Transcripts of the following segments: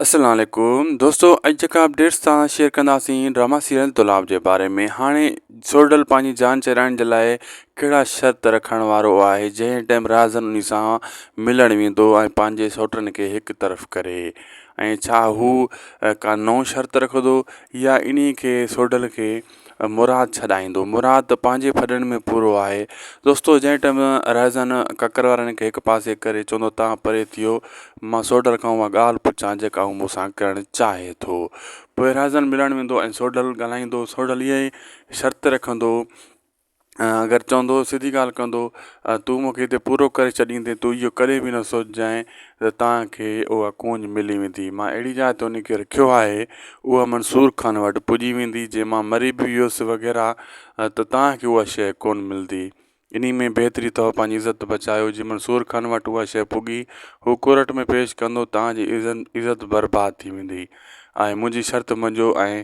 السلام عليڪم دوستو اڄ جيڪا اپڊيٽس سان شيئر ڪنداسين ڊراما سيريل دولاب جي باري ۾ هاڻي سورڊل پنهنجي جان چيرائڻ جي لاء ڪهڙا شرط رکڻ وارو آهي جنهن ٽائم رازن انهي سان ملڻ ويندو ۽ پنهنجي سوٽن کي هڪ طرف ڪري ۽ ڇا هو ڪا نو شرط رکندو يا انهي کي سورڊل کي مراد ڇڏائيندو مراد ته پنهنجي ڦڏن ۾ پورو آهي دوستو جنهن ٽائيم رهزان ڪڪر وارن کي هڪ پاسي ڪري چوندو تان پري ٿيو مان سوڍل کان اها ڳالهه پڇان جيڪا هو مون سان ڪرڻ چاهي ٿو پوء رهزان ملڻ ويندو ۽ سوڍل ڳالهائيندو سوڍل اها ئي شرط رکندو اگر چوندو سڌي ڳالهه ڪندو ۽ تون مون کي هتي پورو ڪري ڇڏيندين تون اهو ڪڏهن به نه سوچجانء ته توهان کي اها ڪونج ملي ويندي مان اهڙي جاء تي ان کي رکيو آهي اها منصور خان وٽ پڄي ويندي جي مان مري به ويس وغيره ته توهان کي اها شيء ڪونه ملندي انهي ۾ بهتري اٿو پنهنجي عزت بچايو جي منصور خان وٽ اها شيء پڳي هو ڪورٽ ۾ پيش ڪندو توهان جي عزت برباد ٿي ويندي ۽ منهنجي شرط مڃجو ۽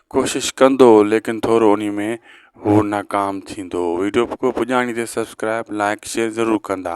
ڪوشش ڪندو ليڪن ٿورو انهي ۾ هو ناڪام ٿيندو ويڊيو ڪو پڄاڻي تي سبسڪرائب لائڪ شيئر ضرور ڪندا.